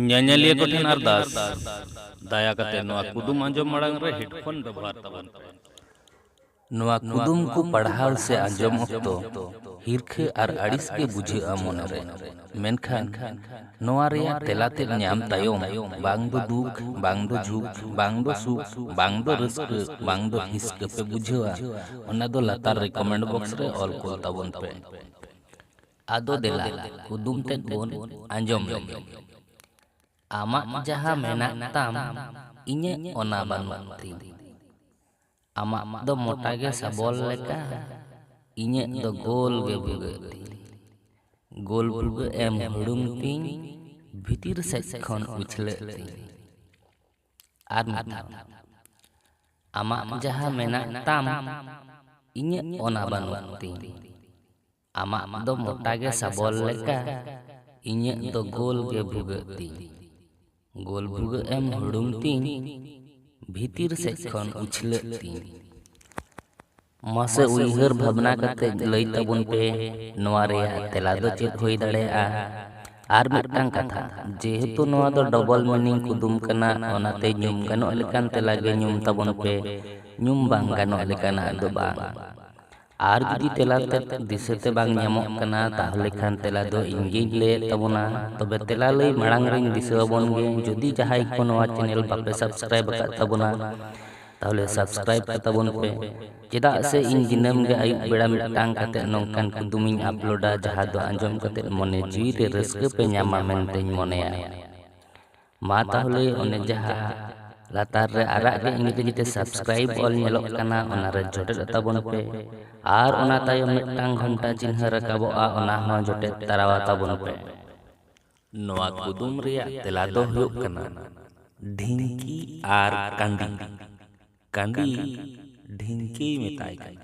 ᱧᱮᱧᱮᱞᱤᱭᱟᱹ ᱠᱚᱴᱷᱮᱱ ᱟᱨᱫᱟᱥ ᱫᱟᱭᱟ ᱠᱟᱛᱮ ᱱᱚᱣᱟ ᱠᱩᱫᱩᱢ ᱟᱸᱡᱚᱢ ᱢᱟᱲᱟᱝ ᱨᱮ ᱦᱮᱰᱯᱷᱳᱱ ᱵᱮᱵᱚᱦᱟᱨ ᱛᱟᱵᱚᱱ ᱯᱮ ᱱᱚᱣᱟ ᱠᱩᱫᱩᱢ ᱠᱚ ᱯᱟᱲᱦᱟᱣ ᱥᱮ ᱟᱸᱡᱚᱢ ᱚᱠᱛᱚ ᱦᱤᱨᱠᱷᱟᱹ ᱟᱨ ᱟᱹᱲᱤᱥ ᱜᱮ ᱵᱩᱡᱷᱟᱹᱜᱼᱟ ᱢᱚᱱᱮᱨᱮ ᱢᱮᱱᱠᱷᱟᱱ ᱱᱚᱣᱟ ᱨᱮᱭᱟᱜ ᱛᱮᱞᱟ ᱛᱮᱫ ᱧᱟᱢ ᱛᱟᱭᱚᱢ ᱵᱟᱝ ᱫᱚ ᱫᱩᱠ ᱵᱟᱝ ᱫᱚ ᱡᱷᱩᱠ ᱵᱟᱝ ᱫᱚ ᱥᱩᱠ ᱵᱟᱝ ᱫᱚ ᱨᱟᱹᱥᱠᱟᱹ ᱵᱟᱝ ᱫᱚ ᱦᱤᱥᱠᱟᱹ ᱯᱮ ᱵᱩᱡᱷᱟᱹᱣᱟ ᱚᱱᱟ ᱫᱚ ᱞᱟᱛᱟᱨ ᱨᱮ ᱠᱚᱢᱮᱱᱴ ᱵᱚᱠᱥ ᱨᱮ ᱚᱞ ᱠᱩᱞ ᱛᱟᱵᱚᱱ ᱯᱮ ᱟᱫᱚ ᱫᱮᱞᱟ ᱠᱩᱫᱩᱢ ᱛᱮᱫ ᱵᱚᱱ ᱟᱸᱡᱚᱢ ᱞᱮᱜᱮ᱾ ᱟᱢᱟᱜ ᱡᱟᱦᱟᱸ ᱢᱮᱱᱟᱜ ᱛᱟᱢ ᱤᱧᱟᱹᱜ ᱚᱱᱟ ᱵᱟᱹᱱᱩᱜ ᱛᱤᱧ᱾ ᱟᱢᱟᱜ ᱫᱚ ᱢᱚᱴᱟ ᱜᱮ ᱥᱟᱵᱚᱞ ᱞᱮᱠᱟ ᱤᱧᱟᱹᱜ ᱫᱚ ᱜᱳᱞ ᱜᱮ ᱵᱷᱩᱜᱟᱹᱜ ᱛᱤᱧ᱾ ᱜᱳᱞ ᱵᱷᱩᱜᱟᱹᱜ ᱮᱢ ᱦᱩᱲᱩᱝ ᱛᱤᱧ ᱵᱷᱤᱛᱤᱨ ᱥᱮᱡ ᱠᱷᱚᱱ ᱩᱪᱷᱞᱟᱹᱜ ᱛᱤᱧ᱾ ᱟᱨ ᱢᱤᱫ ᱫᱷᱟᱣ᱾ ᱟᱢᱟᱜ ᱡᱟᱦᱟᱸ ᱢᱮᱱᱟᱜ ᱛᱟᱢ ᱤᱧᱟᱹᱜ ᱚᱱᱟ ᱵᱟᱹᱱᱩᱜ ᱛᱤᱧ᱾ ᱟᱢᱟᱜ ᱫᱚ ᱢᱚᱴᱟ ᱜᱮ ᱥᱟᱵᱚᱞ ᱞᱮᱠᱟ ᱤᱧᱟᱹᱜ ᱫᱚ ᱜᱳᱞ ᱜᱮ ᱵᱷᱩᱜᱟᱹᱜ ᱛᱤᱧ ᱜᱳᱞ ᱵᱷᱩᱜᱟᱹᱜ ᱮᱢ ᱦᱩᱲᱩᱝ ᱛᱤᱧ ᱵᱷᱤᱛᱤᱨ ᱥᱮᱫ ᱠᱷᱚᱱ ᱩᱪᱷᱞᱟᱹᱜ ᱛᱤᱧ ᱢᱟᱥᱮ ᱩᱭᱦᱟᱹᱨ ᱵᱷᱟᱵᱽᱱᱟ ᱠᱟᱛᱮ ᱞᱟᱹᱭ ᱛᱟᱵᱚᱱ ᱯᱮ ᱱᱚᱣᱟ ᱨᱮᱭᱟᱜ ᱛᱮᱞᱟ ᱫᱚ ᱪᱮᱫ ᱦᱩᱭ ᱫᱟᱲᱮᱭᱟᱜᱼᱟ ᱟᱨ ᱢᱤᱫᱴᱟᱝ ᱠᱟᱛᱷᱟ ᱡᱮᱦᱮᱛᱩ ᱱᱚᱣᱟ ᱫᱚ ᱰᱚᱵᱚᱞ ᱢᱤᱱᱤᱝ ᱠᱩᱫᱩᱢ ᱠᱟᱱᱟ ᱚᱱᱟᱛᱮ ᱧᱩᱢ ᱜᱟᱱᱚᱜ ᱞᱮᱠᱟᱱ ᱛᱮᱞᱟ ᱜᱮ ᱧᱩᱢ ᱛᱟᱵᱚᱱ ᱯᱮ ᱧᱩᱢ ᱵᱟᱝ ᱜᱟᱱᱚᱜ ᱞᱮᱠᱟᱱᱟᱜ ᱫᱚ ᱵᱟᱝ ᱟᱨ ᱡᱩᱫᱤ ᱛᱮᱞᱟ ᱛᱮᱫ ᱫᱤᱥᱟᱹ ᱛᱮ ᱵᱟᱝ ᱧᱟᱢᱚᱜ ᱠᱟᱱᱟ ᱛᱟᱦᱚᱞᱮ ᱠᱷᱟᱱ ᱛᱮᱞᱟ ᱫᱚ ᱤᱧ ᱜᱮᱧ ᱞᱟᱹᱭᱮᱫ ᱛᱟᱵᱚᱱᱟ ᱛᱚᱵᱮ ᱛᱮᱞᱟ ᱞᱟᱹᱭ ᱢᱟᱲᱟᱝ ᱨᱮᱧ ᱫᱤᱥᱟᱹ ᱟᱵᱚᱱ ᱜᱮ ᱡᱩᱫᱤ ᱡᱟᱦᱟᱸᱭ ᱠᱚ ᱱᱚᱣᱟ ᱪᱮᱱᱮᱞ ᱵᱟᱯᱮ ᱥᱟᱵᱥᱠᱨᱟᱭᱤᱵ ᱟᱠᱟᱫ ᱛᱟᱵᱚᱱᱟ ᱛᱟᱦᱚᱞᱮ ᱥᱟᱵᱥᱠᱨᱟᱭᱤᱵ ᱠᱟᱛᱟᱵᱚᱱ ᱯᱮ ᱪᱮᱫᱟᱜ ᱥᱮ ᱤᱧ ᱫᱤᱱᱟᱹᱢ ᱜᱮ ᱟᱹᱭᱩᱵ ᱵᱮᱲᱟ ᱢᱤᱫᱴᱟᱝ ᱠᱟᱛᱮ ᱱᱚᱝᱠᱟᱱ ᱠᱩᱫᱩᱢ ᱤᱧ ᱟᱯᱞᱳᱰᱟ ᱡᱟᱦᱟᱸ ᱫᱚ ᱟᱸᱡᱚᱢ ᱠᱟᱛᱮ ᱢᱚᱱᱮ ᱡᱤᱣᱤ ᱨᱮ ᱨᱟᱹᱥᱠᱟᱹ ᱯᱮ ᱧᱟᱢᱟ ᱢᱮᱱᱛᱮᱧ ᱢᱚᱱᱮᱭᱟ ᱢᱟ ᱛᱟᱦᱚᱞᱮ ᱚᱱᱮ ᱡᱟᱦᱟᱸ ᱞᱟᱛᱟᱨ ᱨᱮ ᱟᱨᱟᱜ ᱜᱮ ᱤᱝᱨᱮᱡᱤ ᱛᱮ ᱥᱟᱵᱥᱠᱨᱟᱭᱤᱵ ᱚᱞ ᱧᱮᱞᱚᱜ ᱠᱟᱱᱟ ᱚᱱᱟ ᱨᱮ ᱡᱚᱴᱮᱫ ᱛᱟᱵᱚᱱ ᱯᱮ ᱟᱨ ᱚᱱᱟ ᱛᱟᱭᱚᱢ ᱢᱤᱫᱴᱟᱝ ᱜᱷᱚᱱᱴᱟ ᱪᱤᱱᱦᱟᱹ ᱨᱟᱠᱟᱵᱚᱜᱼᱟ ᱚᱱᱟ ᱦᱚᱸ ᱡᱚᱴᱮᱫ ᱛᱟᱨᱟᱣᱟ ᱛᱟᱵᱚᱱ ᱯᱮ ᱱᱚᱣᱟ ᱠᱩᱫᱩᱢ ᱨᱮᱭᱟᱜ ᱛᱮᱞᱟ ᱫᱚ ᱦᱩᱭᱩᱜ ᱠᱟᱱᱟ ᱰᱷᱤᱝᱠᱤ ᱟᱨ ᱠᱟᱸᱰᱤ ᱠᱟᱸᱰᱤ ᱰᱷᱤᱝᱠᱤᱭ ᱢᱮᱛᱟᱭ ᱠᱟᱱᱟ